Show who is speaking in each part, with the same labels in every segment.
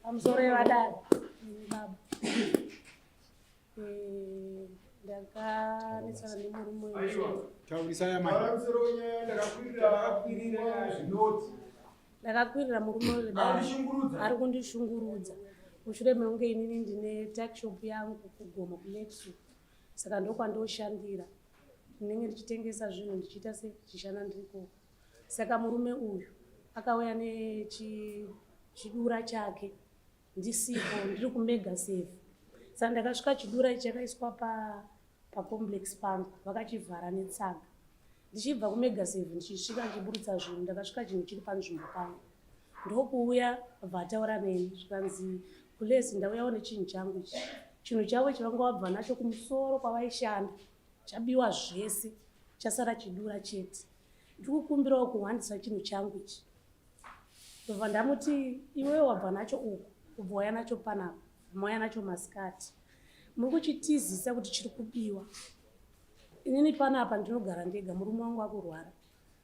Speaker 1: pamusoro yevadada baba eh, ndakanetsana nemurume ndakakwirira murume wedada ari kundishungurudza mushure mekunge inini ndine takshop yangu kugoma kuletsu saka ndokwandoshandira ndinenge ndichitengesa zvinhu ndichiita sechishana ndirikoko Saka murume uyu akauya nechidura chake ndisipo ndiri kumega save sa ndakasvika chidura ichi chakaiswa pacomplex pa pangu vakachivhara netsaga ndichibva kumega save ndichisvika ndichiburitsa zvinhu ndakasvika chinhu chiri panzvimbo pangu ndokuuya vataura neni zvikanzi kulesi ndauyawo nechinhu changu ichi chinhu chavo chivanga wabva nacho kumusoro kwavaishanda chabiwa zvese chasara chidura chete ndiri kukumbirawo kuhwandisa chinhu changu ichi ndobva ndamuti iwewe wabva nacho uku ubva waya nacho panapa mauya nacho masikati muri kuchitizisa kuti chiri kubiwa inini panapa ndinogara ndega murume wangu akurwara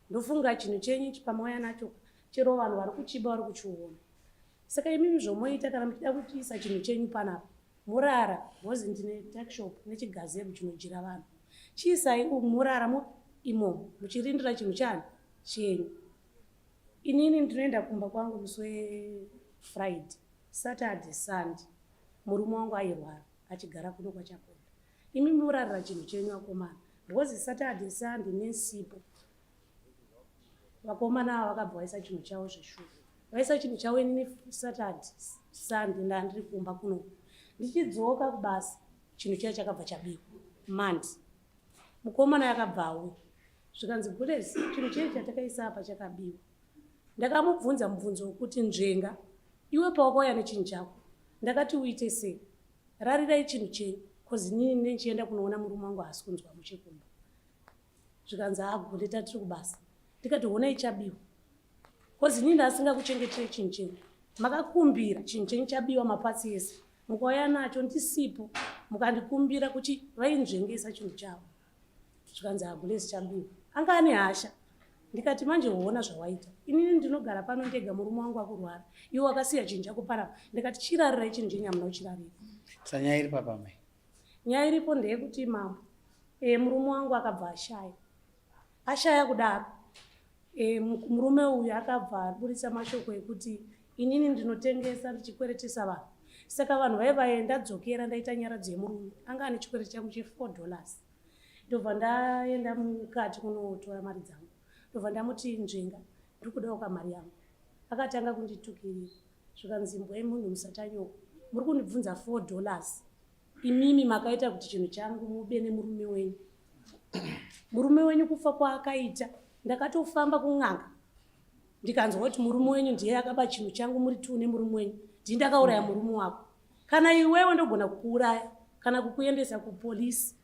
Speaker 1: ndofunga chinhu chenyu chipamauya nacho chero vanhu vari kuchiba vari kuchiona saka imimi zvomoita kana muchida kutiisa chinhu chenyu panapa murara bhozi ndine takshop nechigazebo chinodyira vanhu chiisai murara mo imomo muchirindira chinhu chani chenyu inini ndinoenda kumba kwangu musi wefriday saturday sunday murume wangu airwara achigara kuno kwachakonda imi murarira chinhu chenyu akomana bhozi saturday sunday nesipo vakomana ava vakabva vaisa chinhu chavo zveshuwa vaisa chinhu chavo inini satad sande ndandiri kumba kuno ndichidzoka kubasa chinhu chaiyo chakabva chabikwa mandi mukomana yakabva auya zvikanzi gulesi chinhu chei chatakaisa apa chakabiwa ndakamubvunza mubvunzo wekuti nzvenga iwe pawakauya nechinhu chako ndakati uite sei rarirai chinhu chenyu bcause inini ndichienda kunoona murume wangu haasi kunzwa muchekumba zvikanzi agone ah, tatiri kubasa ndikati honai chabiwa bcause inini ndaasinga kuchengetire chinhu chenyu makakumbira chinhu chenyu chabiwa mapatsi ese mukauya nacho ndisipo mukandikumbira kuti vainzvengesa chinhu chavo zvikanzi agulesi ah, chabiwa anga ane hasha ndikati manje hoona zvawaita inini ndinogara pano ndega murume wangu akurwara iwe wakasiya chinhu chako parapa ndikati chirarirai chinhu chenyu hamuna kuchirarira sanyaya iri papamai Nyaya iripo ndeyekuti mambo e, murume wangu akabva ashaya ashaya kudaro e, murume uyu akabva aburitsa mashoko ekuti inini ndinotengesa ndichikweretesa vanhu saka vanhu vaiva vaye ndadzokera ndaita nyaradzo yemurume anga ane chikwereti changu chefour dollars ndobva ndaenda mukati kunotora mari dzangu ndobva ndamuti nzvenga ndikudawo kamari yangu akatanga kunditukirira zvikanzi mbwa yemunhu musatanyoko muri kundibvunza four dollars imimi makaita kuti chinhu changu mube nemurume wenyu murume wenyu kufa kwaakaita ndakatofamba kun'anga ndikanzwa kuti murume wenyu ndiye akaba chinhu changu muri two nemurume wenyu ndii ndakauraya murume wako kana iwewe ndogona kukuuraya kana kukuendesa kupolisi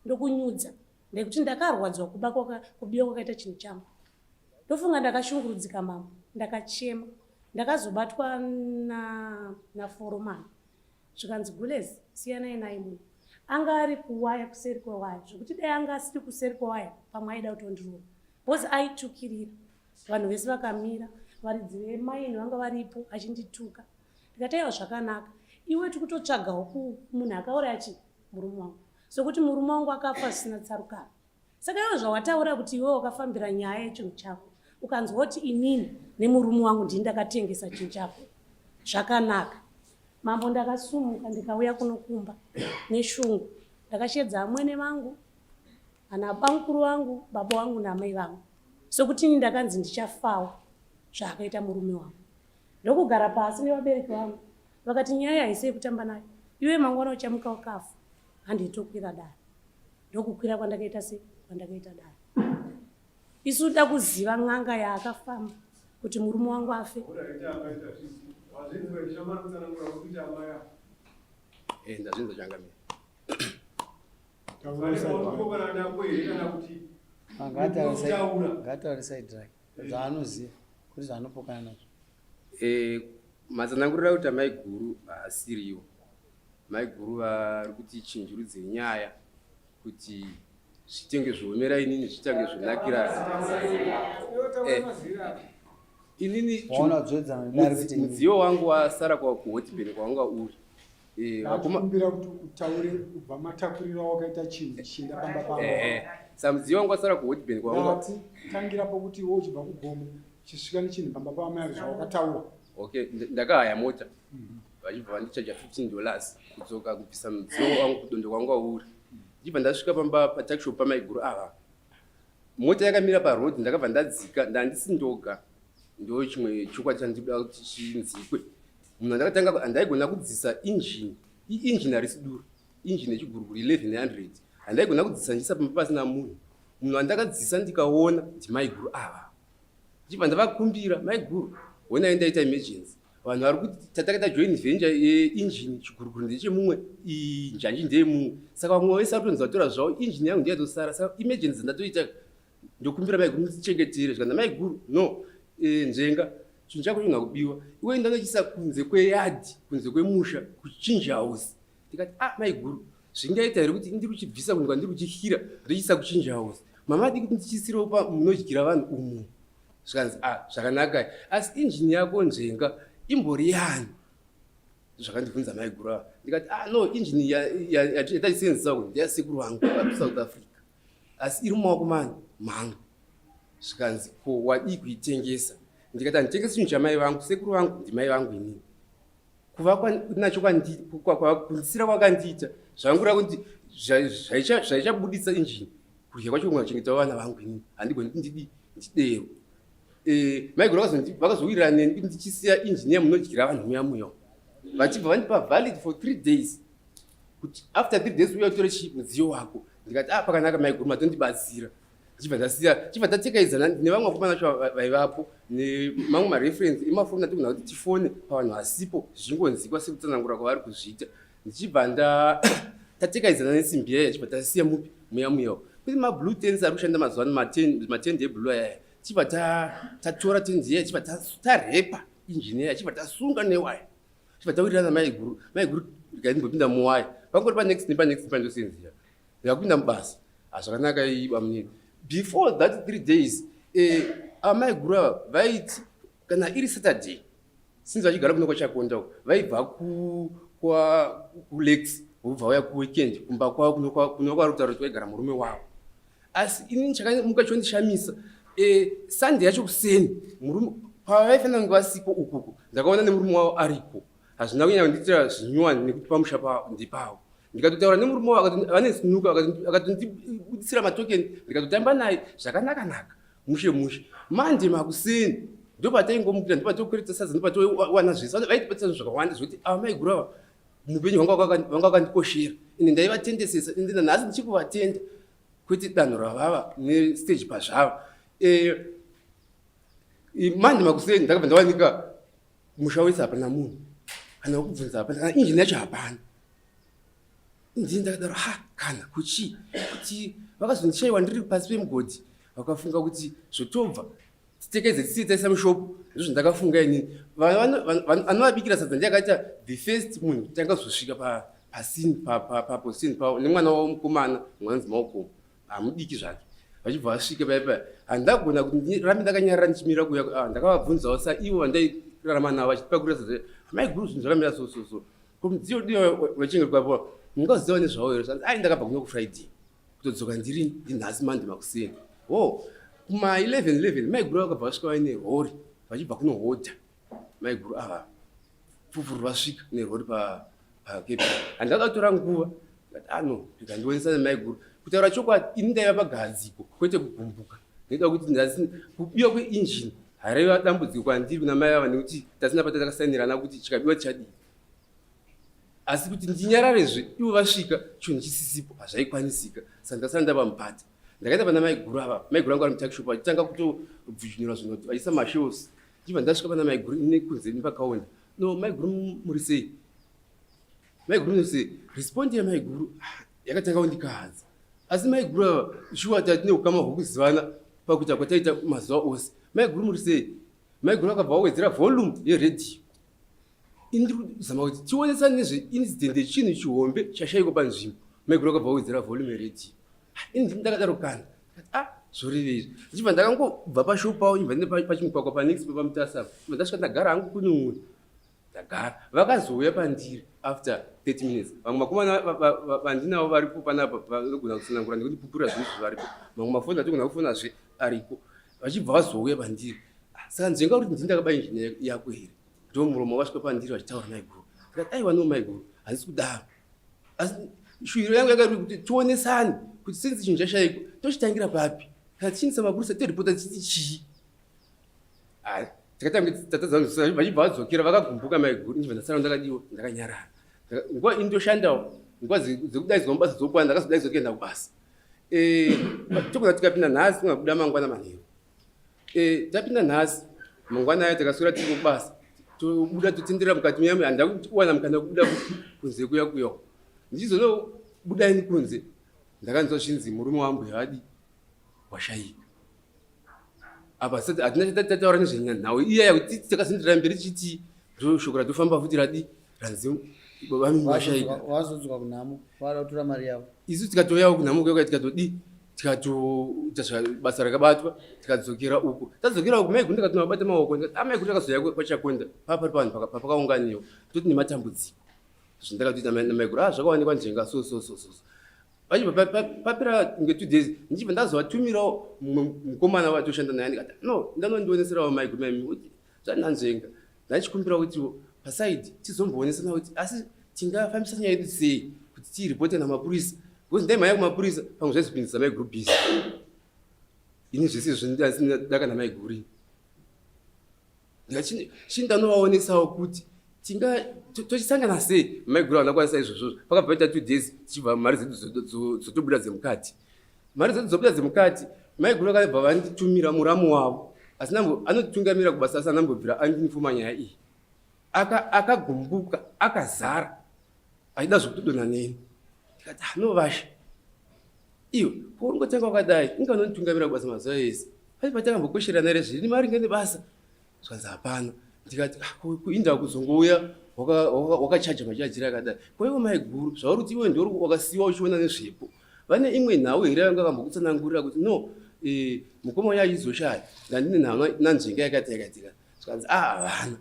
Speaker 1: ndokunyudza nekuti ndakarwadziwa kuba kubiwa kwakaita chinhu changu ndofunga ndakashungurudzika mambo ndakachema ndakazobatwa naforomani zvikanzi gules siyanai naye munhu anga ari kuwaya kuseri kwewaya zvekuti dai anga asiri kuseri kwewaya pamwe aida kutondirova bcause aitukirira vanhu vese vakamira varidzi vemaini vanga varipo achindituka ndikataiwa zvakanaka iwe tikutotsvagawo munhu akauraya chii murume wangu sokuti murume wangu akafa asina tsarukano saka iwe zvawataura kuti iwe wakafambira nyaya yechinhu chako ukanzwa kuti inini nemurume wangu ndii ndakatengesa chinhu chako zvakanaka mambo ndakasumuka ndikauya kunokumba neshungu ndakashedza amwene vangu ana bamukuru vangu baba wangu namai vangu sokuti ini ndakanzi ndichafawo zvaakaita murume wangu ndokugara pasi nevabereki vangu vakati nyaya haisi yekutamba nayo iwe mangwana uchamuka wakafa handei tokwira dare ndokukwira kwandakaita se kwandakaita dare isu da kuziva n'anga yaakafamba kuti murume wangu afe eh, ndazvinza changamira ngaataure side rake zvaanoziva kuti zvaanopokana nazvo Eh, matsanangurira kuti amai guru haasiriwo mai guru vari kuti chinjurudze nyaya kuti zvitenge zviomera inini zvitange zvonakira eh, inini mudziyo wangu wasara kwakuhotibeni kwawanga uri eh, vakumbira kuti utaure kubva matakurira wakaita chinhu chienda pamba paa eh, samudziyo wangu wasara kuhotibeni kwawanga tangira pokuti wo uchibva kugomo chisvika nechinhu pamba paamai avo zvawakataura okay ndakahaya mota mhm. vachibva vandichaja 15 dollars kudzoka kubvisa mudziyo wangu kudondo kwangu auri ndichibva ndasvika pamba patakishopu pamaiguru ava mota yakamira paroad ndakabva ndadzika ndandisi ndoga ndo chimwe chokwadi chandikuda kuti chinzikwe munhu andakatanga handaigona kudzisa injini iinjini harisi duro injini yechiguruguru 1100 handaigona kudzisa ndiisa pamba pasina munhu munhu andakadzisa ndikaona ndimaiguru ava ndichibva ndavakumbira maiguru honai ndaita emergency vanhu vari kuti tataka tajoin venture yeengine chiguruguru ndechemumwe njanji ndeyemumwe saka vamwe vese vari kutonzi vatora zvavo engine yangu ndiyatosara saka emergency ndatoita ndokumbira maiguru mutichengetere zvikanzi maiguru no eh, nzenga chinhu chako chinoda kubiwa iwe ndanochisa kunze kweyadhi kunze kwemusha kuchinji house ndikati ah maiguru zvingaita here kuti ndiri kuchibvisa kunhu kwandiri kuchihyira ndichiisa kuchinja house mama diki ndichisirawo pa munodyira vanhu umo zvikanzi ah zvakanaka asi injini yako nzvenga imbori yani zvakandibvunza maiguru ava ndikati ah no injini yataisenzisa kuti ndeyasekuru vangu vasouth africa asi iri mumaoko mani mangu zvikanzi ko wadii kuitengesa ndikati handitengesi chinhu chamai vangu sekuru vangu ndimai vangu inini kuva nacho kwakundisira kwakandiita zvangura kuti zvaichabuditsa injini kudya kwacho kunga chengeta vana vangu ini handigoni ndidi ndidero eh, maiguru vakazowirira neni kuti ndichisiya injini yamunodyira vanhu muya muya vachibva vandipa valid for three days kuti after three days uya utore chii mudziyo wako ndikati ah pakanaka maiguru matondibatsira zvichibva zvasiya zvichibva tatekaidzana nevamwe vakomana vacho vaivapo nemamwe mareferensi emafoni atigona kuti tifone pavanhu vasipo zvichingonzikwa sekutsanangura kwavari kuzviita ndichibva nda tatekaidzana nesimbi yaya chibva tasiya mupi muya muyawo kune mablue tens ari kushanda mazuva ano matende eblue ayaya chibva tatora tendi yaya chibva tarepa injini yaya chibva tasunga newaya chibva tawirirana maiguru maiguru ndikaimbopinda muwaya pangori panext nepanext pandosenziya yakupinda mubasa hazvakanaka ah, iba munini before that three days eh, amai guru ava vaiti kana iri saturday since vachigara kuno kwachakonda uko vaibva kulex vobva vauya kuweekend kumba kwavo kuno kwarutaura kuti vaigara murume wavo asi ini chakamuka chondishamisa eh, sunday yacho kuseni pavaifanira kunge vasipo ukuko ndakaona nemurume wavo ariko hazvina kunyanya kundiitira zvinyuwani nekuti pamusha pavo ndipavo ndikatotaura nemurume wavo vane sinuka akatondibudisira matokeni ndikatotamba naye zvakanaka naka mushe mushe manje makuseni ndopataingomukira ndopatokwereta sadza ndopatowana zvese vaitibatisa zvinhu zvakawanda zvekuti ava ah, maiguru ava mupenyu vanga vakandikoshera ende ndaivatendesesa ende nanhasi ndichikuvatenda kwete danho ravava nestage pazvava eh, manje makuseni ndakabva ndawanika Musha wese hapana munhu kana wekubvunza hapana kana injini yacho hapana. Injini ndakadaro ha kana kuchii kuti vakazondishaiwa ndiri pasi pemugodhi vakafunga kuti zvotobva titekeze tisii taisa mushopu ndizvo ndakafunga ini anovabikira sadza ndiye akaita the first munhu kuti angazosvika pasini paposini pavo nemwana wavo mukomana mwanzi maokomo hamudiki zvake vachibva vasvika paya paya handagona kuti rambe ndakanyarira ndichimira kuya ah, ndakavabvunzawo sa ivo vandairarama navo vachipakurisa zve amai guru zvinhu zvakamira so so so ko mudziyo dii vachinge kwapo mungaziva nezvavo here zvanzi ai ndakabva kuno kufriday kutodzoka ndiri ndinhasi mande makuseni o kuma 11 11 mai guru vakabva vasvika vaine hori vachibva kunohodha maiguru ava fufuru vasvika nerori pakepi and akatora nguva ano ah, zvikandiwonesa nemaiguru kutaura chokwadi ini ndaiva pagadziko kwete kugumbuka nekuda kuti kubiwa kweinjini haraiva dambudziko kwandiri kuna mai vava nekuti tasina pata takasainirana kuti chikabiwa chadii asi kuti ndinyararezve ivo vasvika chinhu chisisipo hazvaikwanisika saka ndasara ndava mupata ndakaita pana maiguru ava maiguru angu ari mutakishopu vachitanga kutobvujunura zvinoti vachiisa mashows Ndiva ndasvika pana maiguru ine kunze nepakaona. No, maiguru muri sei? Maiguru muri sei? Respond ya maiguru ah, yakatanga kundikahadza. Asi maiguru ava shuwa tatine ukama hwokuzivana pakuita kwataita mazuva ose. Maiguru muri sei? Maiguru akabva wawedzera volume yeredhiyo. Indiri kuzama kuti tionesa nezve incident yechinhu chihombe chashaiko panzvimbo. Maiguru akabva awedzera volume yeredio. Ini ndakadaro kana. Ah, zvorevei izvi. Ndichibva ndakangobva pashop pawo ibva ndine pachimugwagwa panext pamutasa. Ibva ndasvika ndagara hangu kune umwe. Ndagara. Vakazouya pandiri after 30 minutes. Vamwe makomana vandinawo varipo panapa vanogona kutsanangura nekundipupura zvinhu zvivaripo. Mamwe mafoni atogona kufona zve ariko. Vachibva vazouya pandiri. Saka nzvenga kuti ndini ndakaba engineer yako here? ndomuromo wasvika pandiri vachitaura maiguru ndikati aiwa no maiguru handisi kudaro asi shuviro yangu yakairi kuti tionesani kuti since chinhu chashaikwa tochitangira papi kana tichiindisa mapurisa toripota tichiti chii takatanga tatadza vachibva vadzokera vakagumbuka maiguru ndibva ndasara ndakadiwa ndakanyarara nguva ini ndoshandawo nguva dzekudaidzwa mubasa dzokwana ndakazodaidzwa kuenda kubasa eh, tokona tikapinda nhasi kungabuda mangwana manheru Eh, tapinda nhasi mangwana aya takaswera tiri kubasa tobuda totendera mukati muyamwe handida kuwana mukana kubuda kunze kuya kuya ndichizonobuda ini kunze ndakanzwa zvinzi murume wambuya vadi washayika apa hatina chatataura nezvenhau iyaya kuti takazindira mberi tichiti shoko ratofamba futi radi hanzi baba vamimi vashaika vazodzwa kunhamo vada kutora mari yavo isu tikatoyawo kunhamo kuyoka tikatodii tikatoita zvabasa rakabatwa tikadzokera uko tadzokera uko mai gunda katuma bata maoko amai gunda akazoya kwachakonda papari pavanhu papakaunganiwa toti nematambudziko zvandakatoita namai gura ah, zvakawanikwa njenga so so so so vachibva papera nge two days ndichibva ndazovatumirawo mumwe mukomana watoshanda naye ndikati no ndanondioneserawo mai gura mai zvandanzvenga ndaichikumbira kuti pasaidi tizomboonesana kuti asi tingafambisa nyaya yedu sei kuti tiiripote namapurisa bcause ndaimhaya kumapurisa pamwe zvaizopindisa maiguru bhizi ini zvese zvindadaka namaiguri chii ndanovaonesawo kuti tinga tochisangana sei maiguru vanakwanisa izvozvozvo pakabva paita two days tichibva mari dzedu dzotobuda dzemukati mari dzedu dzobuda dzemukati maiguru vakabva vanditumira muramu wavo asi anotungamira kubasa asi anambobvira andinifuma nyaya iyi akagumbuka akazara aida zvekutodona neni ndikati anovasha ah, iwe poungotanga wakadai inganonitungamira kubasa mazuva ese pai patakambokosherana rezviri maringe nebasa zvanzi hapana ndikati ah, kuinda kuzongouya wakachaja machajira akadai kwaivo maiguru zvauri kuti iwe ndiori wakasiwa uchiona nezvepo waka vane imwe nhau here vanga vambokutsanangurira kuti no eh, mukoma uya aizoshaya ndandine nhau nanzvenga yakati yakaitika zvikanzi a ah, havana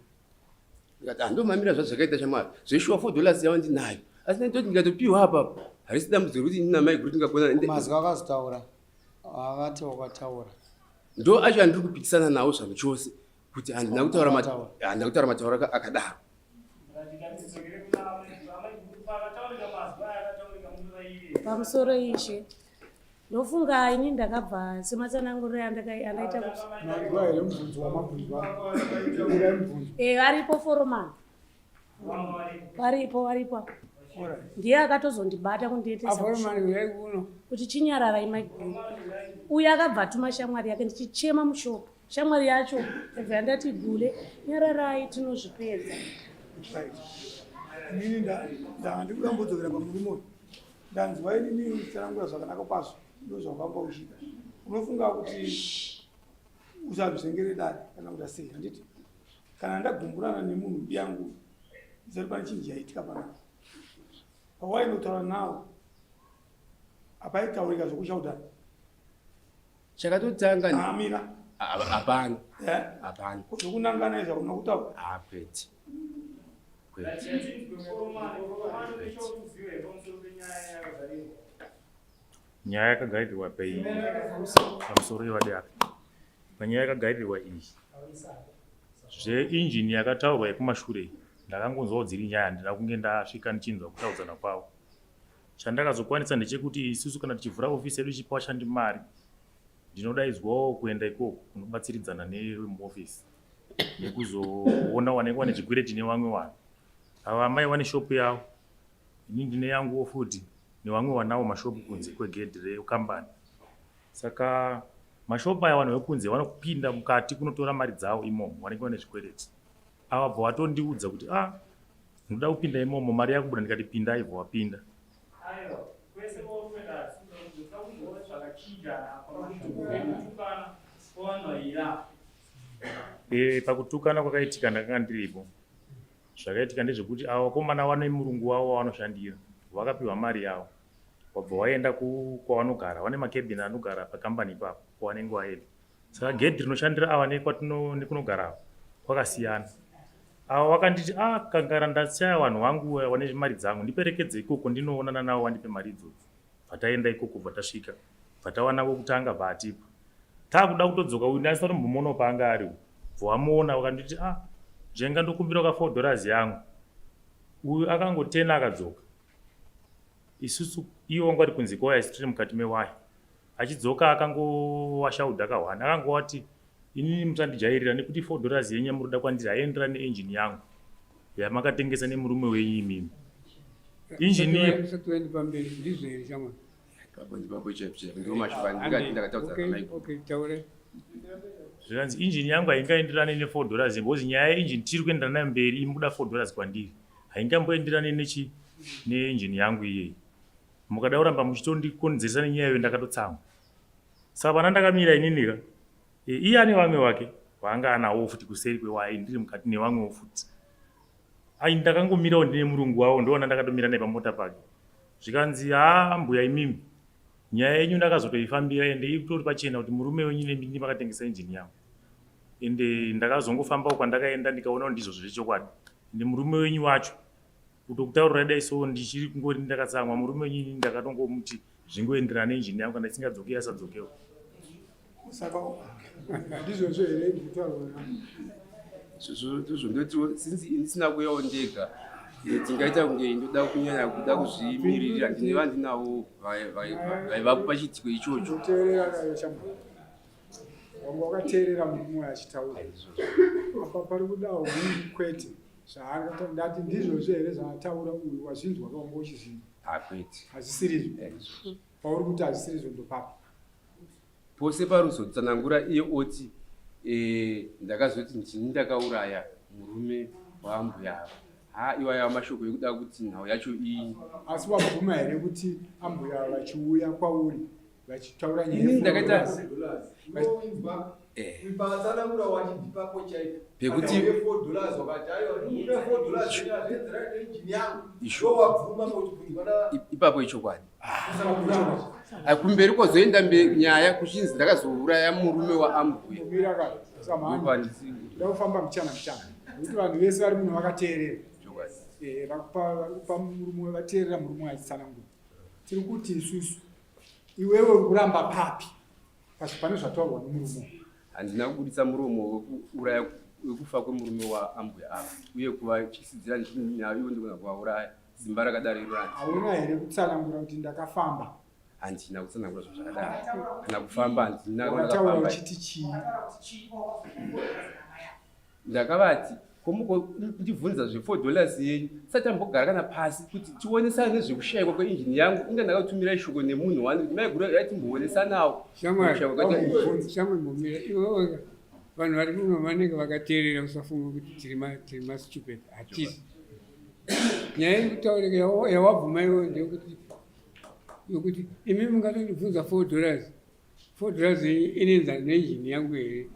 Speaker 1: ndikati handomamira ah, zvazvakaita shamwari zveshuwa four dollars yava ndinayo asi ndaitoti ndikatopiwa apapo harisi dambudziro kuti ini namai guru tingagona akazotaura avati wakataura ndo acho andiri kupikisana nawo zvanhu chose kuti handina kutaura mataura akadaro pamusoro ishe ndofunga ini ndakabva sematsananguriro yandaita eh, varipo foromani varipo varipo ndiye akatozondibata kundiendesakuti chinyararai maiguru uye akabva atuma shamwari yake ndichichema mushopo Shamwari yacho ibva yandati gule nyararai tinozvipedza. Inini ndanga ndikuda kumbodzokera pamurume uyu ndanzwa inini uchitsanangura zvakanaka kwazvo ndozvawakamba uchiita unofunga kuti usazvizengere dare kana kuti asei handiti kana ndagumburana nemunhu mbi yangu izati pane chinji yaitika panapa pawainotaura nawo apaitaurika zvokushaudhana chakatotanga ni- amira Ah, hapana eh hapana kuti kunangana izvo kuna kutaura Ah, kwete kwete nyaya yakagairirwa pei pamusoro yevadare panyaya yakagairirwa iyi zveinjini yakataurwa yekumashure iyi, ndakangonzwawo dziri nyaya handina kunge ndasvika ndichinzwa kutaudzana kwavo Chandakazokwanisa ndechekuti isusu kana tichivhura ofisi yedu ichipa vashandi mari, ndinodaidzwawo kuenda ikoko kunobatsiridzana nevemuofisi nekuzoona wanenge wane zvikwereti nevamwe vanhu. Ava amai vane shopu yavo, ini ndine yanguwo futi nevamwe vanawo mashopu kunze kwegedhi rekambani. Saka mashopu aya vanhu vekunze vanopinda mukati kunotora mari dzavo imomo, vanenge vane zvikwereti. Avabva watondiudza kuti a ah, ndinoda kupinda imomo mari yakubuda ndikati pinda aibva wapinda eh, pakutukana kwakaitika ndakanga ndiripo zvakaitika ndezvekuti avo vakomana vane murungu wavo wavanoshandira vakapiwa mari yavo wabva waenda kwavanogara vane makebini anogara pakambani ipapo kwavanenge vaenda saka gedhi rinoshandira ava nekunogara kwakasiyana ava vakanditi a ah, kangara ndachaya vanhu vangu vane zvimari dzangu ndiperekedze ikoko ndinoonana navo vandipe mari idzodzo bvataenda ikoko bvatasvika bvatawana vokutanga bvaatipa taakuda kutodzoka uyu ndasina tombomuonawo paanga ari bvawamuona vakanditi a ah, zvenga ndokumbira ka four dollars yangu uyu akangotena akadzoka isusu ivo vanga vari kunzi kwawaya sitiri mukati mewaya Achidzoka akangowashauda ka one akangowati inini musandijairira nekuti four dollars yenyu yamuroda kwandiri haiendera neenjini yangu yamakatengesa nemurume wenyu imimi injini zvikanzi injini yangu haingaenderane nefour dollars because nyaya yeinjini tiri kuendera nayo mberi imukuda four dollars kwandiri haingamboenderane nechi neinjini yangu iyeyi mukada kuramba muchitondikonzeresa nenyaya iyo ndakatotsamwa saka pana ndakamira ininika e, iye ane vamwe wake waanga anawo futi kuseri kwewaye ndiri mukati nevamwewo futi ai ndakangomirawo ndine murungu wavo ndoona ndakatomira naye pamota pake zvikanzi haa mbuya imimi nyaya yenyu ndakazotoifambira ende itori pachena kuti murume wenyu nemini makatengesa injini yangu ende ndakazongofambawo kwandakaenda ndikaona kuti ndizvo zviri chokwadi ende murume wenyu wacho kutokutaurira dai so ndichiri kungori ndakatsamwa murume wenyu ini ndakatongomuti zvingoenderana nenjini yangu kana isingadzoke asadzokewo saka ndizvozvo here ndikutaurira zvozvo ndotiwo since ndisina kuyawo ndega eh, tingaita kunge ndoda kunyanya kuda kuzvimiririra ndine vandinawo vaivapo pachiitiko ichocho teerera nayo chamba wanga wakateerera murume achitaura apa pari kudawo kwete zvaakatoda ati ndizvozvo here zvaataura uyu wazvinzwa kaunga uchizvinzwa hakuiti hazvisirizvo pauri kuti hazvisirizvo ndopapi pose paruzotsanangura iye oti e, ndakazoti ndini ndakauraya murume waambuya ava ha iwaya mashoko ekuda kuti nhau yacho iyi asi wabvuma here kuti ambuya vachiuya kwauri vachitaura nyayaipapo ichokwadi ah, kumberi kozoenda nyaya kuchinzi ndakazouraya murume waambuya ndakufamba mchana mchana nekuti vanhu vese vari muno vakateerera eh, vakupa murume vateerera murume achitsanangura tiri kuti isusu Iwewe uri kuramba papi? Pasi pane zvataurwa nemurume. Handina kubuditsa muromo wekuuraya wekufa kwemurume waambuya ava uye kuvatyisidzira ndichinyaya ivo ndikona kuvauraya simba rakadaro irorani. Hauna here kutsanangura kuti ndakafamba? Handina kutsanangura zvinhu zvakadaro. Kana kufamba handina. Wakataura uchiti chii? Ndakavati, ko mukondibvunza zve4 dollars yenyu tisati tambogara kana pasi kuti tionesane nezvekushayikwa kweinjini yangu inga ndakatumirai shoko nemunhu wani kuti maiguru yaiva timboonesanawo shamwari momira iweoga vanhu vari muno vanenge vakateerera usafunga kuti tiri mastupid hatisi nyaya iri kutaurika yawabvuma iwe ndeyekuti yokuti imi mungatondibvunza 4 dollars Fodrazi inoenzana neinjini yangu here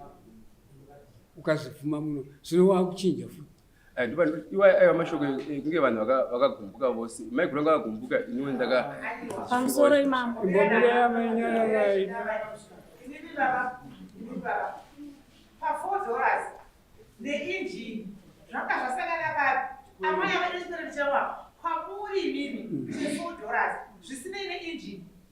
Speaker 1: ukazvipfuma muno zvino wakuchinja futi eh, iwa ayo eh, mashoko eh, kunge vanhu vakagumbuka vose mai kuranga vakagumbuka iniwe ndaka pamusoro imama imbomira mainyararai pafodoras neinjini zvanga zvasangana papi amai avadesperate chawa kwamuri imimi chefodoras zvisinei neinjini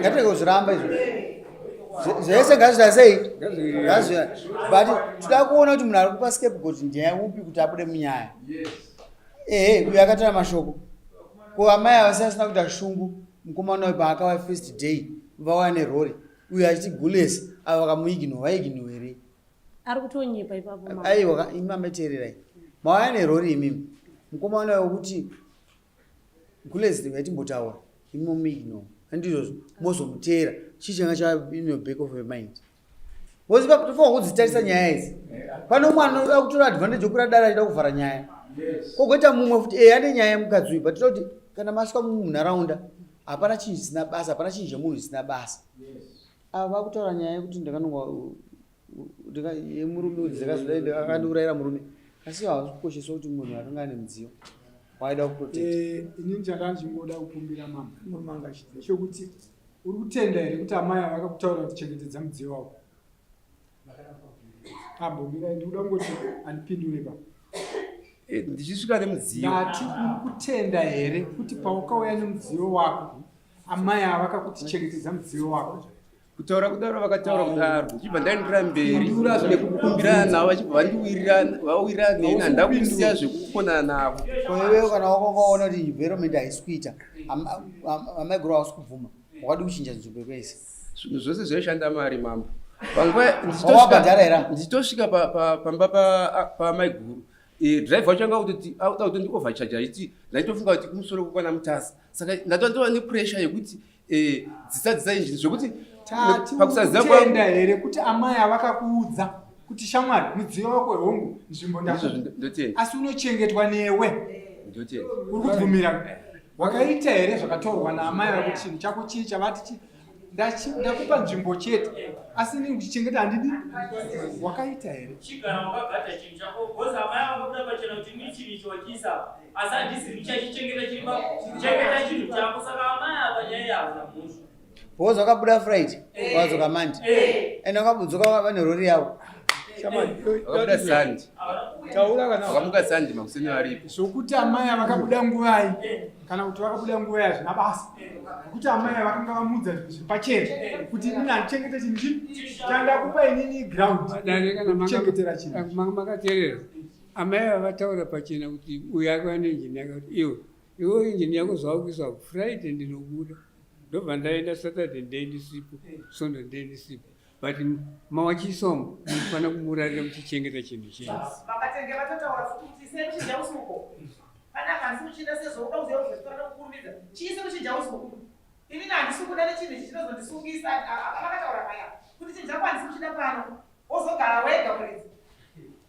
Speaker 1: ngatirege kuzviramba izvo zvese ngazvita sei ngazvita but tida kuona kuti munhu ari kupa scape goti ndiye upi kuti abude munyaya ehe uyo akatara mashoko ko amai avasi asina kuita shungu mukomana uyu paakava first day vauya nerori uyo achiti gules ava vakamuigno vaigno here ari kutonyepa ipapo aiwa imambeteererai mauya nerori imimi mukomana uyo kuti gulezde ngaitimbotaura imomiigno andizvozvo mozomuteera chii changa chainoback of mind bcause pakutofanwa kudzitarisa nyaya idzi pano mwana oda kutora advantage okura dara achida kuvhara nyaya kogoita mumwe futi e ane nyaya yemukadzi uyu but toda kuti kana maswa munharaunda hapana chinhu chisina basa hapana chinhu chemunhu chisina basa ava vakutaura nyaya yekuti ndakanonga murume udzekazodai ndakakandiurayira murume asi hazvi kukosheswa kuti munhu akanga ane mudziyo waida kuprotect eh, ini ndichakanga ndichingoda kukumbira mama murume anga achiti chokuti uri kutenda here kuti amai ava vakakutaura kuti chengetedza mudziyo wavo ambomira ndikuda kungoti andipindure pa eh, ndichisvika nemudziyo ndati uri kutenda here kuti paukauya nemudziyo wako amai ava vakakuti chengetedza mudziyo wako kutaura kudaro vakataura kudaro ndichibva ndaenderera mberi nekukumbirana navo vachibva vandiwirirana vawirirana neni handida kusiya zvekukonana navo koiwewo kana wakokaona kuti environment haisi kuita amaiguru hausi kubvuma wakadi kuchinja nzvimbo kwese zvinhu zvose zvaishanda mari mambo panguva ndichitosvika pamba pamaiguru eh, drive wacho anga kutoti akuda kutondiovhachaja achiti ndaitofunga kuti kumusoro kukwana mutasa saka ndatova nepressure yekuti Eh, dzisa dzisa injiri zvekuti pakusaziva kutenda here kuti amai avakakuudza kuti shamwari mudziyo wako hongu nzvimbo ndazvotenda asi unochengetwa newe ndotenda uri kubvumira eh. wakaita here zvakatorwa naamai vako chinhu chako chii chavati chii ndakupa nzvimbo chete asi inini kuchichengeta handidi wakaita here asi handisi ndichachichengeta chiri pakuchengeta chinhu chako saka amai apa nyaya iyi havana mhosva bhozi wakabuda friday eh. wadzoka mandi eh. and wakabudzoka vane rori yavo vakamuka sandi makuseni varipi zvokuti amai avakabuda nguvai kana kuti vakabuda nguva yazvina basa nokuti amai avakanga vamudza zvinhu zviri pachena kuti ini handichengete chinhu chii chandakupa inini ground kuchengetera chinhu makateerera Amai ava vataura pachena kuti uyu akava neinjini yake kuti iwe iwe injini yako zvawakuisa friday ndinobuda ndobva ndaenda saturday ndee ndisipo sunday ndee ndisipo but mawachisomo mufanira kumurarira muchichengeta chinhu chenyu inini handisi kuda nechinhu ichi chinozondisungisa vakataura paya kuti chinhu chako handisi kuchida pano wozogara wega muridzi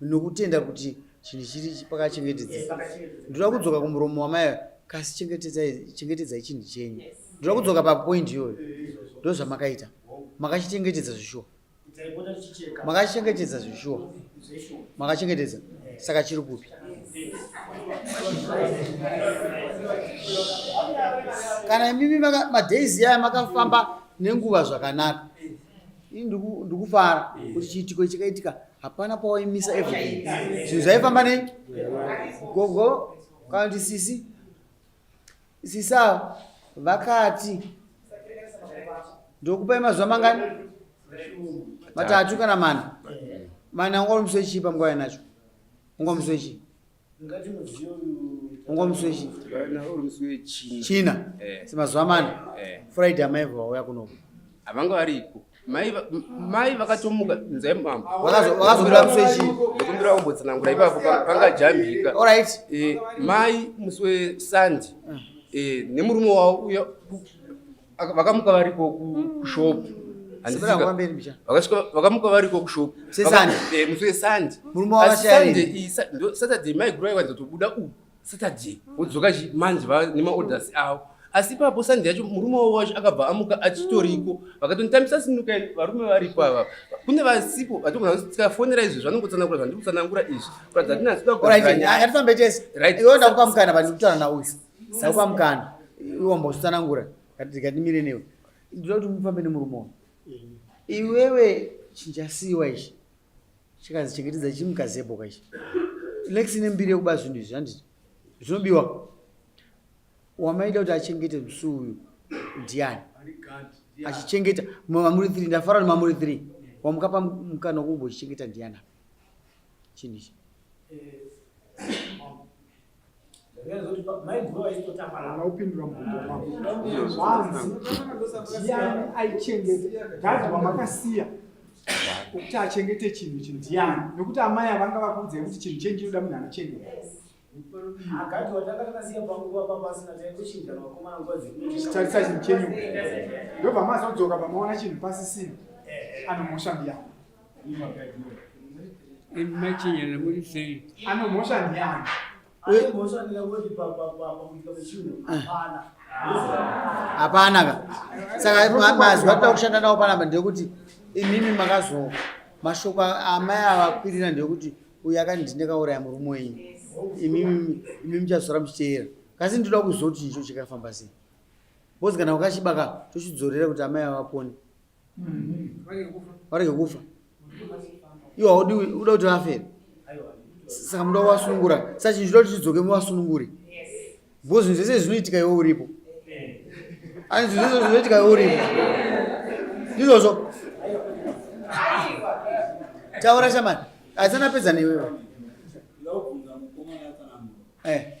Speaker 1: nokutenda kuti chinhu chiri pakachengetedzeka ndoda kudzoka kumuromo wamai kasi chengetedzai chinhu chenyu ndoda kudzoka papoindi iyoyo ndo zvamakaita makachichengetedza zvishuwa makachichengetedza zvishuwa makachengetedza saka chiri kupi kana imimi madays yaya makafamba nenguva zvakanaka ini ndikufara kuti chiitiko chakaitika hapana pawaimisa everything zvinhu zvaifamba nei gogo kana kuti sisi sisa vakati ndokupai mazuva mangani matatu kana mana mana ungamusoichii panguva yanacho ungamusoichii china eh. semazuva mana eh. friday amai vauya kunoku havanga varipo mai vakatomuka nzai mambo vakazombira kuswechi ndokumbira kumbotsanangura ipapo pangajambika orit eh, mai musi wesandi nemurume wavo uya vakamuka variko kushop vakamuka variko kushop musi wesande saturday maigura iwanza tobuda u saturday vodzoka manje nemaorders avo asi ipapo sande yacho murume wavo wacho akabva amuka achitoriko vakatonitambisa sinuka varume varipo ava kune vasipo vatogona kuti tikafonera izvi zvanongotsanangura zvandiri kutsanangura izvi kuratidza kuti nasoda kuaaiatambe chese iwe ndakukamukana vandikutana nauyu Saupa mkana. Iwo mbozvitsanangura. Ngatimire newe. Ndinoda kuti mufambe nemurume uyu. Iwewe chinjasiwa ichi. Chikazi chengetedza chimukazebo kaichi. Lex ine mbiri yekuba zvinhu izvi handiti? Zvinobiwa. Wamaida kuti achengete musi uyu ndiani? Achichengeta mamuri 3 ndafara nemamuri 3. Wamukapa mkana wokumbochichengeta ndiani? Chinhu ichi. Eh, aupindura mubvunzo wako hanzi ndiani aichengete gadhi wamakasiya kuti achengete chinhu chinhu ndiani nokuti amai avanga vakuudzai kuti chinhu chenyu chinoda munhu anochengeta akati watanga takasiya panguva papasina taitochinja vakomana nguva dzekutarisa chinhu chenyu ndobva mazodzoka pamaona chinhu pasisina anomusha mbiyana machinyana muri sei anomhosva ndiani anomhosva ndikakuti pakuitika kwechinhu hapana hapana ka saka mazwi atoda kushanda nawo panapa ndeyekuti imimi makazo mashoko amai avakwirira ndeyekuti uyu akandindekauraya murume wenyu imimi muchazora muchiteera kasi ndinoda kuzoti icho chikafamba sei bcoz kana ukachibaka tochidzorera kuti amai avapone varege kufa iwo haudi uda kuti vafe saka muda kuvasunungura saka chinhu chinoda kuti chidzoke muvasununguri bho zvinhu zvese zvinoitika iwe uripo ani zvinhu zvese zvinoitika iwe uripo ndizvozvo taura shamani aisana pedza newewe eh.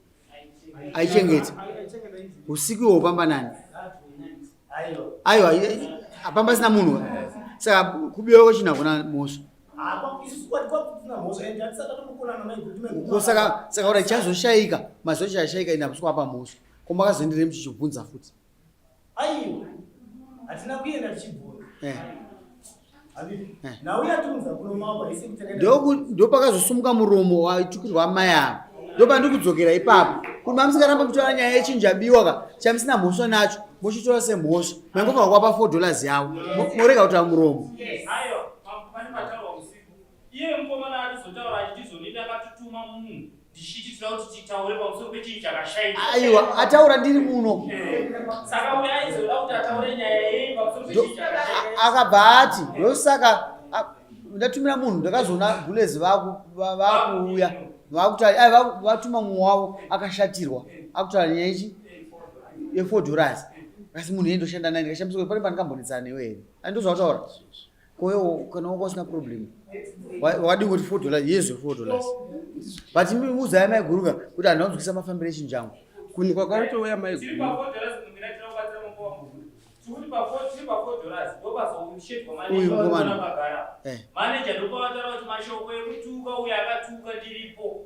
Speaker 1: aichengeta usiku ihwo pamba nani aiwa apamba sina munhu saka kubiwa kwechina kuna mhosva saka kuti chazoshaika mazochashaika ina kusikwapa mhosva komakazoenderei muchichibvunza futi aiwa hatina kuenda tichibvunza eh. eh. ndopakazosumuka muromo waitukirwa amai ava ndopandiri kudzokera ipapo kuti mamusingaramba kutora nyaya yechinjabiwa ka chamusina mhosva nacho mochitora semhosva mangova kwapa four dollars yavo morega kutora muromo iye mukomana atizotaura achitizonini akatituma munhu ndichiitira kuti titaure pamusoro pechinhu chakashaika aiwa ataura ndiri muno saka uyo aizoda kuti ataure nyaya yei pamusoro pechinhu chakashaika akabva ati ndosaka ndatumira munhu ndakazoona gulezi vakuuya vakutari ai vatuma mumwe wavo akashatirwa akutaura nyaya ichi yefour dollars kasi munhu yei ndoshanda naye ndikashambiswa pane pandikambonetsana newe here andozvataura Koyo kana wako usina problem. Wadi kuti 4 dollars, yes 4 dollars. But mimi uza yama iguruka kuti anonzwisa mafambire chinjangu. Kuni kwa kwaito uya mai guru. Uyu mkomana. Eh. Manager ndopavatara kuti mashoko ekutuka uya akatuka ndiripo.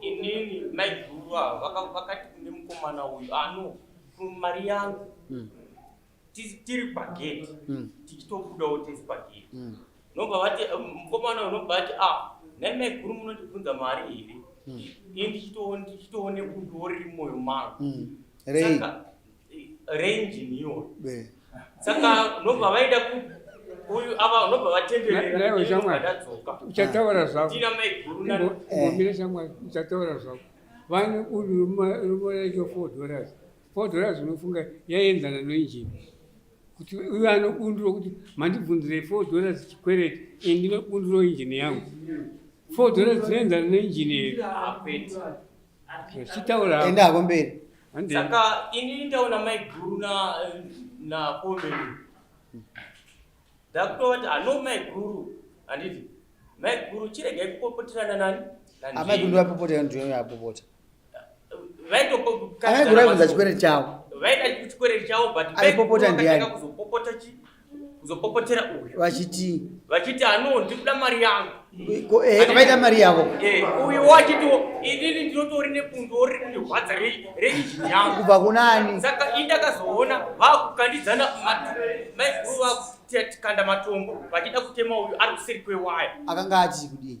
Speaker 1: inini maiguru ava vakati kune mukomana uyu ano mari yangu mm. tiri pageti mm. tichitobudawo tese pageti mm. nobva vati eh, mukomana uyu nobva vati a ah, nhai maiguru munondibvunza mari here ini ndichitoone kuti woriri mwoyo mangu saka range niyo saka unobva vaenda uyu ava unobva vatendereraiwe shamwari uchataura zvako ngomire shamwari uchataura zvako vane uri rumoracho four dollars four dollars unofunga yaienzana noinjini kuti uyo anobunduro kuti mandibvunzirei four dollars chikwereti ini ndinobunduro injini yangu four dollars dzinoenzana noinjini here Chitaura. Enda hako mberi. Saka ini ndaona maiguru na na komeni. Ndakutovati ano maiguru handiti maiguru chiregai kupopoterana nani? Amai kundu vapopotera ndiyo yapopota. Vaitopopotera. Amai kundu vaibvunza chikwereti chavo. Vaida chikwereti chavo but maiguru vakatanga kuzopopota chii? kuzopopotera uyu vachiti vachiti ano ndikuda mari yangu eh, vakaita mari yavo eh, uyu wachiti inini ndinotori nepundu riri kundirwadza reizini yangu kubva kunani saka ini ndakazoona vakukandidzana maiguru vakutikanda matombo vachida kutema uyu ari kuseri kwewaya akanga achii kudii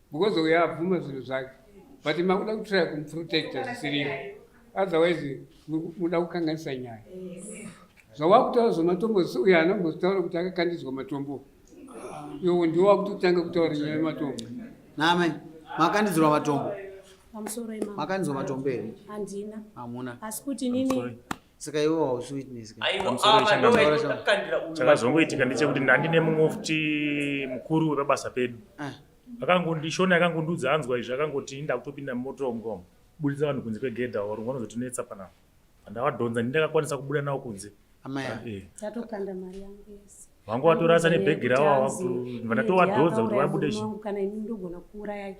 Speaker 1: because uyo abvuma zvinhu zvake but makuda kutraya kumprotecta zvisiriyo otherwise muda kukanganisa nyaya zvawakutaura zvematombo zisi uyo haana kumbotaura kuti akakandidzwa matombo iwo ndiwo wakutotanga kutaura nyaya yematombo name makandidzirwa matombo makandidzwa matombo here hamuna asi kuti nini saka iwe hausi witness chakazongoitika ndechekuti ndandine mumwe futi mukuru wepabasa pedu ah. akangondishona akangondiudza anzwa izvi akangoti ndakutopinda mumoto womgom buditsa vanhu kunze kwegedha or vanozotinetsa pana pandavadhonza ndindakakwanisa kubuda nawo kunze amai ah, eh. vanga watorasa nebhegi ravo avatowadhodza kuti vabude kana ini ndogona kuurayai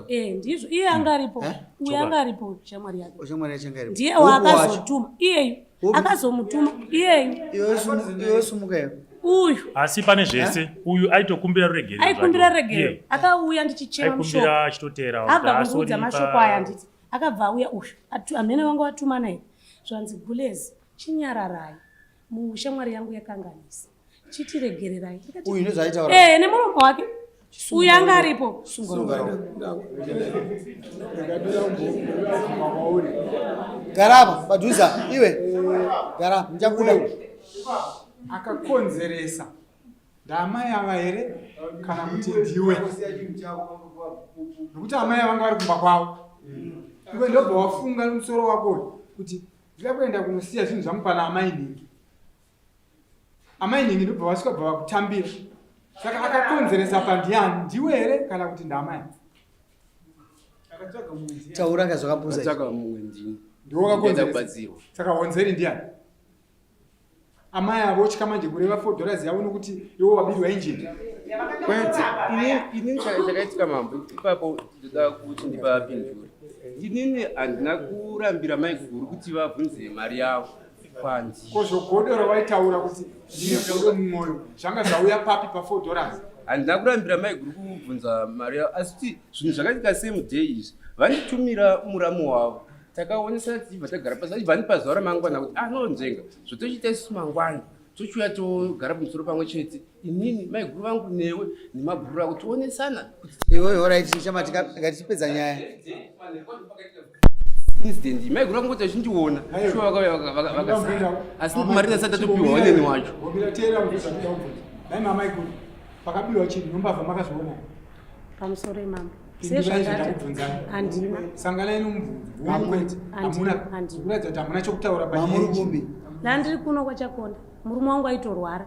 Speaker 1: eh, ndizvo iye anga aripo eh? uye anga aripo shamwari yake ndiye waakazotuma iyeyu akazomutuma iyeyu iwesumukayo uyu asi pane eh? zvese uyu aitokumbira ruregerero aikumbira ruregerero akauya ndichichera mushoko achitoteera abva kundiudza mashoko aya nditi akabva auya uyu amene vanga watuma naye zvanzi gulezi chinyararai Mushamwari yangu yakanganisa. Chitiregererai. Uyu nezvaitaura. Eh, nemuromo wake. Uyu anga aripo. Garaba, padhuza iwe. Garaba, ndichakuda. Akakonzeresa. Ndamai ava here kana kuti ndiwe? Nokuti amai vanga vari kumba kwavo. Iwe ndobva wafunga musoro wako kuti Ndida kuenda kunosiya zvinhu zvangu pana amai nhingi. Amai nhingi ndobva vasvika bva vakutambira. Saka akakonzeresa pandiyani ndiwe here kana kuti ndamai? Taura kazvakapusa. Ndiwo akakonzeresa. Saka honzeri ndiyani? amai avo otya manje kureva four dollars yavo nokuti iwo wabirwa injini kwete inini chakaitika mambo ipapo ndoda kuti ndipapindure inini handina kurambira mai guru kuti vabvunze mari yavo kwanzi ko zvogodora waitaura kuti ndine godo mumwoyo zvanga zvauya papi pafour dollars handina kurambira mai guru kubvunza mari yavo asi kuti zvinhu zvakaitika same day izvi vanditumira muramu wavo takaonesa tibva tagara pasi achibva andipa zuva ramangwana kuti anonzvenga ah, zvotochiita isu mangwana tochiuya togara pamusoro pamwe chete inini maiguru vangu newe nemabhuru ako tionesana iwoyo orit chama tikatipedza nyaya incident maiguru vangu kuti vachindiona shuwa vakauya vakasara asi marina asati atopiwa waneni wacho pakabirwa chinhu nombavha makazoona pamusoro imambo sezvandiri kuno kwachakonda murume wangu aitorwara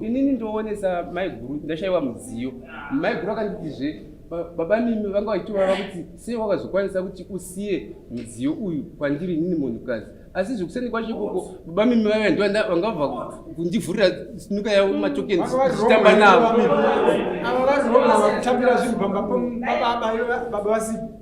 Speaker 1: inini ndoonesa maiguru ndashaiwa mudziyo maiguru akanditizve baba mimi vanga vachitovava kuti sei wakazokwanisa kuti usiye mudziyo uyu kwandiri inini munhukadzi asi zvekuseni kwacho ikoko baba mimi vaiva ndo vanga vabva kundivhurira sinuka yavo matokeni zvichitamba navo ava vazivaa kutambira zvinhu pamba pababa vasipo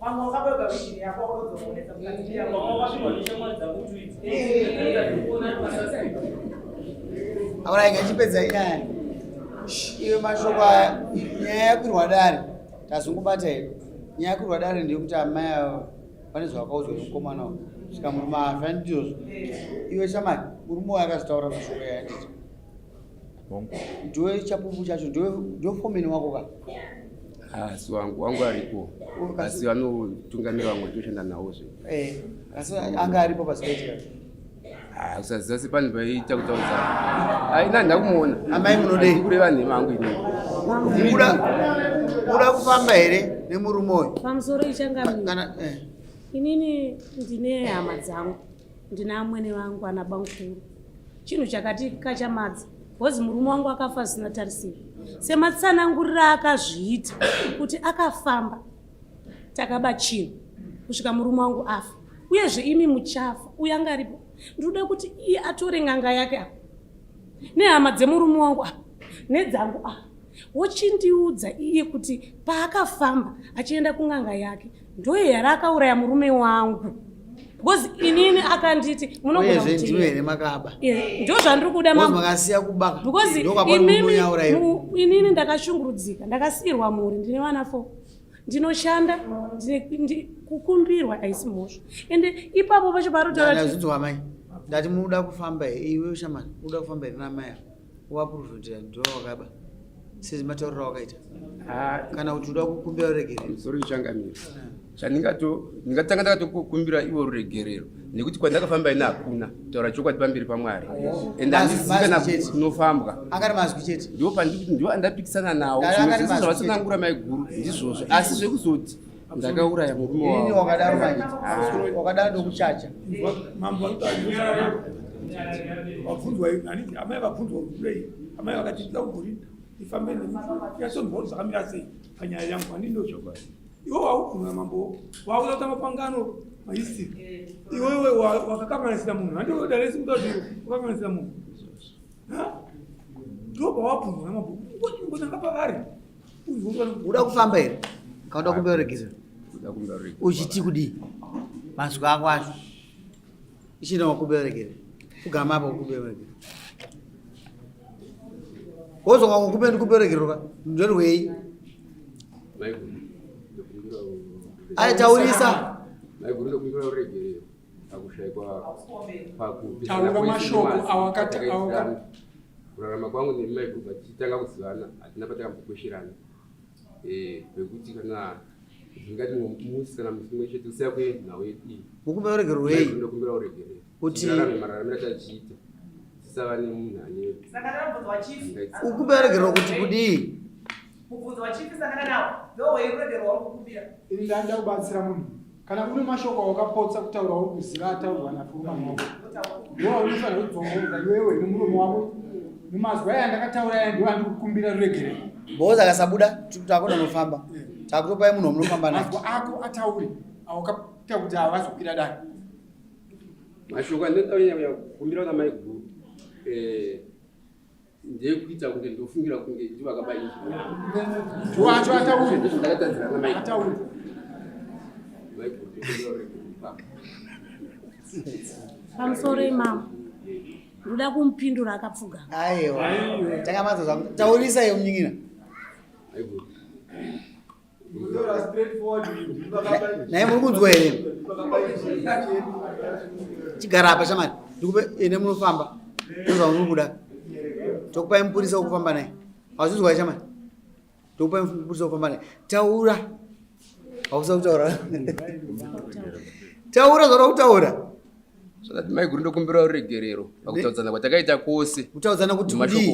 Speaker 1: Pamwe wakaboga vision yako wakazoonesa mukati yako. Pamwe wakashimwa shamwari dzako tweets. Aona ingachipedza inyaya. Iwe mashoko aya nyaya yakwirwa dare tazongobata here nyaya yakwirwa dare ndeyekuti amai ava pane zvavakaudzwa nemukomana uyu saka murume afa ndizvozvo iwe shamari murume uyo akazvitaura mashoko yayanditi ndiwe chapupu chacho ndiwe fomeni wako ka asi ah, wangu wangu aripo asi vanotungamira vamwe toshanda nawo zve eh, asi anga aripo pasipetira ah, usaziva se pane paiita kutaudza aina ndakumuona amai munodei kureva nhema angu ini uda kufamba here nemurume uyu pamusoro ichangakana eh. inini ndine hama dzangu Ndina amwene vangu ana bamkuru. Chinhu chakati kachamadza because murume wangu akafa zvisina tarisiro. Sematsanangurira akazviita kuti akafamba takaba chinhu kusvika murume wangu afa. Uyezve imi muchafa uyo anga aripo. Ndinoda kuti iye atore nganga yake apa. Nehama dzemurume wangu apa nedzangu apa. Wochindiudza iye kuti paakafamba achienda kunganga yake ndoye yari akauraya murume wangu because inini akanditi munogonaezve ndiwe here makaba ndo zvandiri kuda makasiya kubaka because inini inini ndakashungurudzika ndakasiyirwa mhuri ndine vana fo ndinoshanda kukumbirwa haisi mhosva ende ipapo pacho parotaura ndati muda kufamba iwe shamani uda kufamba here namai ako waprofitira ndiwe wakaba sezi matauriro awakaita ah, kana kuti uda kukumbira ruregerero sori changamiro chandingato ndingatanga ndakatokumbira ivo ruregerero nekuti kwandakafamba ini hakuna taura chokwadi pamberi pamwari ende handizikana kunofambwa akari mazwi chete ndiwo pandikuti ndiwo andapikisana nawo zvimwe zvese zvavasanangura maiguru ndizvozvo asi zvekuzoti ndakauraya murume wao wakadaro manje ah. wakadaro ndokuchacha mambo vabvunzwa haniti amai vabvunzwa kurei amai vakati ndida kukurinda ndifambe yasonbhoro zvakamira sei panyaya yangu hanini ndochokwadi iwe wauguna mambo wauda kutamba pangano maisi iwewe wakakanganisira munhu handiodalesi kuda kuti wakakanganisira munhu ndobawabvunzwa namabhuku ngonanga pavari uda kufamba here kauda kumbeoregisa uchiti kudii mazwi ako acho ichina wakuberekere kugama apa kukuberekere wozoka kukupe ndikuberekeroka ndorwei aitaurisa taura mashoko awakati kurarama kwangu nemai kubva tichitanga kuzivana hatina patakambokosherana vekuti eh, kana ndingati musi kana musi mumwe chete usiya kuenda nhau yedu iyi ukumbira uregerwei ndokumbira uregerei kuti rarame mararamira tachiita tisava nemunhu ane ukumbira uregerwa kuti kudii mubvunzo wachipi sangana nawo ndoweirwederwa wakukumbira ini ndaida kubatsira munhu Kana une mashoko awakapotsa kutaura uri kuziva ataurwa napfuma moko. Ndiwo unofanira kudzongomza iwewe nemuromo wako. Mumazwi aya ndakataura aya ndiwo andikukumbira ruregerero. Boza akasabuda takona nofamba. Eh. Takutopai munhu wamunofamba naye. Mazwi ako atauri awakapita kuti havazokwira dani. Mashoko andinotaura kumbira kuna maiguru. Eh ndekuita kunge ndofungira kunge ndi vakaba izvi wacho ataure ndakatadzira na mai ataure pamusoro imama ndoda kumupindura akapfuga aiwa takamadza zvaku taurisa iyo munyin'ina naye muri kunzwa here chigara apa shamari ndikupe ene munofamba ndozva muri kuda tokupai mupurisa wokufamba naye hauzvinzwa here shamari tokupai mupurisa wokufamba naye taura hausa kutaura taura zvaura kutaura mai guru ndokumbira ruregerero pakutaudzana kwatakaita kwose kutaudzana kuti kudii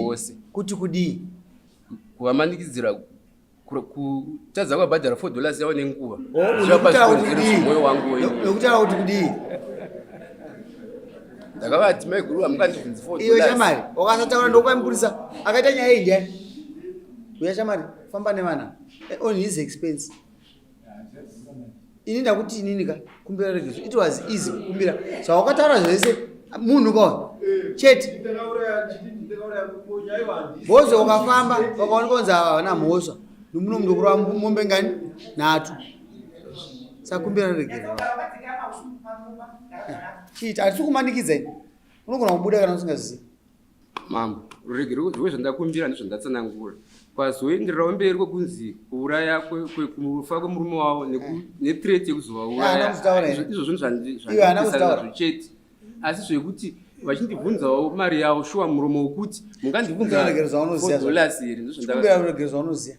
Speaker 1: kuti kudii kuvamanikidzira kutadza kwabhadhara four dollars yavo nenguva mwoyo wangu wekutaura kuti kudii ndakavati maiguru amukandibvunzi four iyo shamari wakasataura ndokwamupurisa akaita nyaya iyi ndiani uya shamari famba nevana eh, on his expense ini ndakuti inini ka kumbira regeso it was easy kukumbira zvawakataura so, zvese munhu ka chete bozo ukafamba wakaona konzi ava havana mhosva nomuno munhu kurova mombe ngani nhatu sakumbira regeso chiita hatisi kumanikidza ini unogona kubuda kana usingazivi Mambo, ruregerero rwezvandakumbira nezvandatsanangura kwazoendererawo mberi kwekunzi kuuraya kufa kwemurume wavo nethreat yekuzovaurayaizvo zvinhu zvandizvichete asi zvekuti vachindibvunzawo mari yavo shuwa muromo wekuti mungandibvunzadollars here ndozvandaaruregerero zvaunoziva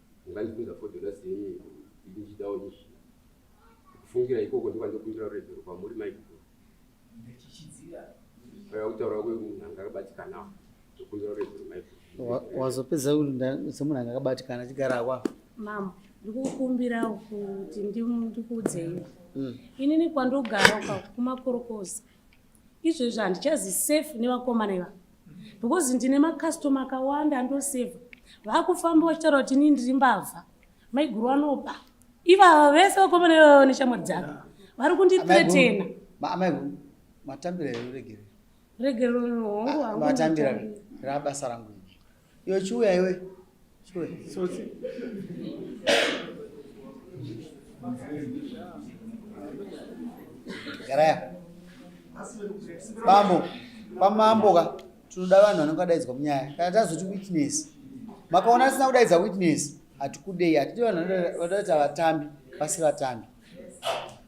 Speaker 1: Ndakandibvunza for the last year iko kuti ndichidawo izvi. Kufungira ikoko ndiko ndokundira ruregerero kwamuri maiguru. Ndichichidzira. Paya kutaura kwemunhu anga akabatikana ndokundira ruregerero maiguru. Wazopedza kuti semunhu anga akabatikana achigara akwa. Mama, ndikukumbira kuti ndikuudzei. Mm. Inini kwandogara uka kumakorokoza. izvezvi handichazi safe nevakomana iva because ndine macustoma akawanda andoseva vakufamba vachitaura kuti inii ndiri mbavha maiguru anoba ivava vese vakomana ivava neshamwari dzake vari kunditretena matambira regerero regerero hongu ah, matambira rabasa rangu Yo chiuya iwe. Chiuya. Tsotsi. Garaya. Bambo, pamambo ka tinoda vanhu vanenge vadaidzwa munyaya. Kana tazoti witness. Makaona asina kudaidza witness. Hatikudei, hatidi vanhu vanodaidza vatambi, vasi vatambi.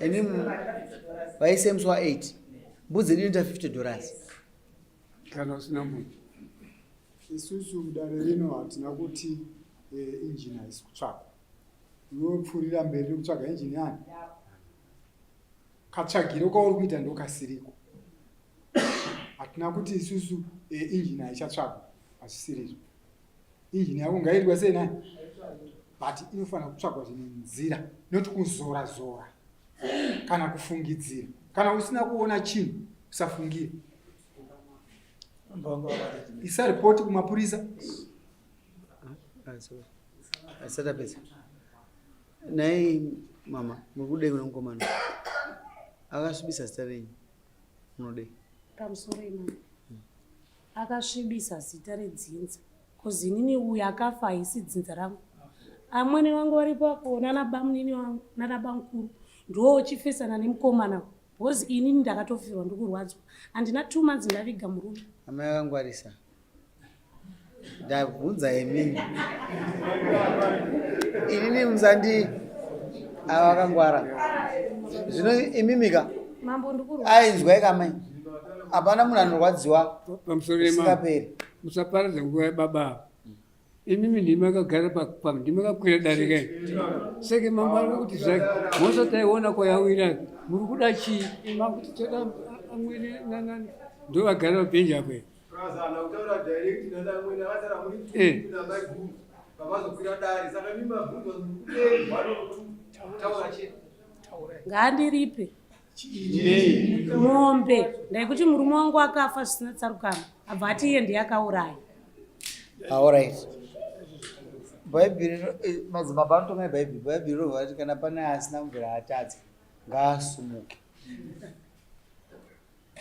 Speaker 1: ene vaisemswa 8 mbudzi yedu inoita 50 dollars kana usina mbudzi isusu mudare rino hatina kuti eh, injini haisi kutsvakwa unopfuurira mberi nekutsvaga injini yani katsvagiro kauri kuita ndokasiriko hatina kuti isusu eh, injini haichatsvakwa hazvisirizvo Iyi nhayo ungaitwa sei nai? But inofanira kutsvagwa zvine nzira not kuzora zora kana kufungidzira. Kana usina kuona chinhu usafungira. Isa report kumapurisa. Asata pesa. Nai mama, muri kudei kuna mukomana? Akasvibisa zita renyu. Munodei? Pamusoro imama. Akasvibisa zita redzinza cause inini uyu akafa haisi dzinza rangu. Amwene vangu vari papo nana bamunini vangu nana bamukuru ndoo chifesana nemukomana because inini ndakatofirwa ndikurwadzwa handina two months ndaviga murume. Amai akangwarisa ndabvunza yemini inini musandi ava vakangwara zvino imimika Mambo ndikuru. Ai nzwai kamai. Hapana munhu anorwadziwa. Pamusoro yema. Singaperi. Musaparadza nguva yababa. Imimi ndimi akagara pa ndimi akakwira dare kai. Seke mambo ari kuti zvake mose taiona kwayawira muri kuda chii? Mambo kuti toda amwene nanani. Ndovagara pabenja apo. Praza anakutaura direct nana amwene akatara muri kuti eh. na mai guru. Baba zokwira dare saka mimi mabvunzo. Eh, bado taura chete. ngaandiripe mombe ndaikuti murume wangu akafa zvisina tsarukano abva ati iye ndiye akauraya aorit ah, bhaibheri eh, madzimaba anotonga ebhaibheri bhaibheri rovha kuti kana pane asina mvura atadze ngaasumuke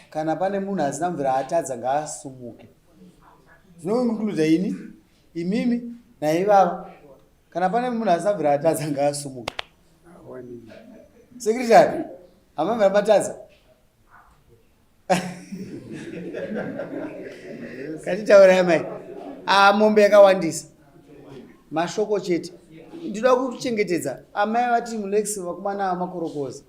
Speaker 1: kana pane munhu asina mvura atadza ngaasumuke zvinounkluda ini imimi naivava kana pane munhu asina mvura atadza ngaasumuke sekretary amamvira matadza katitaura yamai ah, mombe yakawandisa mashoko chete ndinoda kuchengetedza amai vati mulex vakomana vamakorokoza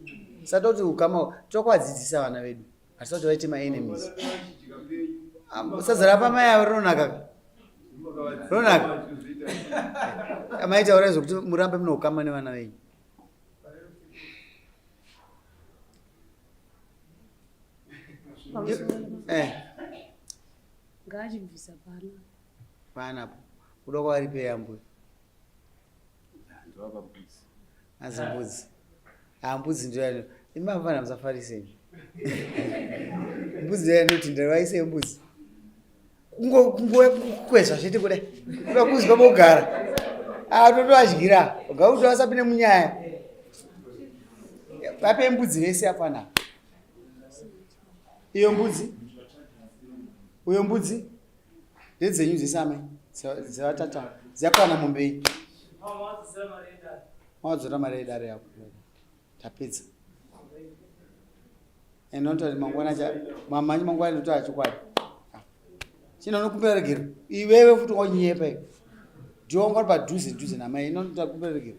Speaker 1: sata kuti ukama tokuvadzidzisa vana vedu hatisati vaite maenemies sazara pamai avo rinonaka rinonaka amai taurai zvokuti murambe mune ukama nevana venyu eh. Ngaachibvisa pano. Pana apo. Kuda kwaripeya mbuya. Ndovapa mbudzi. Anzi mbudzi. Ah mbudzi ndiyo yano. Imavana musafarisei. Mbudzi ndiyo yanoti ndavaise mbudzi. Kungo kungo kukwezva zvete kuda. Kuda kuzwa bogara. Ah toto adyira. Ngauti wasapine munyaya. Vape mbudzi vese apana. iyo mbudzi uyo mbudzi ndedzenyu dzese amai dzevatata dzakwana mombeyi mawadzora mari yedare yako tapedza and not that mangwana cha mamanyi mangwana ndoto achokwadi chino nokumbira regero iwewe futi wanyepa iwe ndiwo ngwari padhuze dhuze namai ino ndotakumbira regero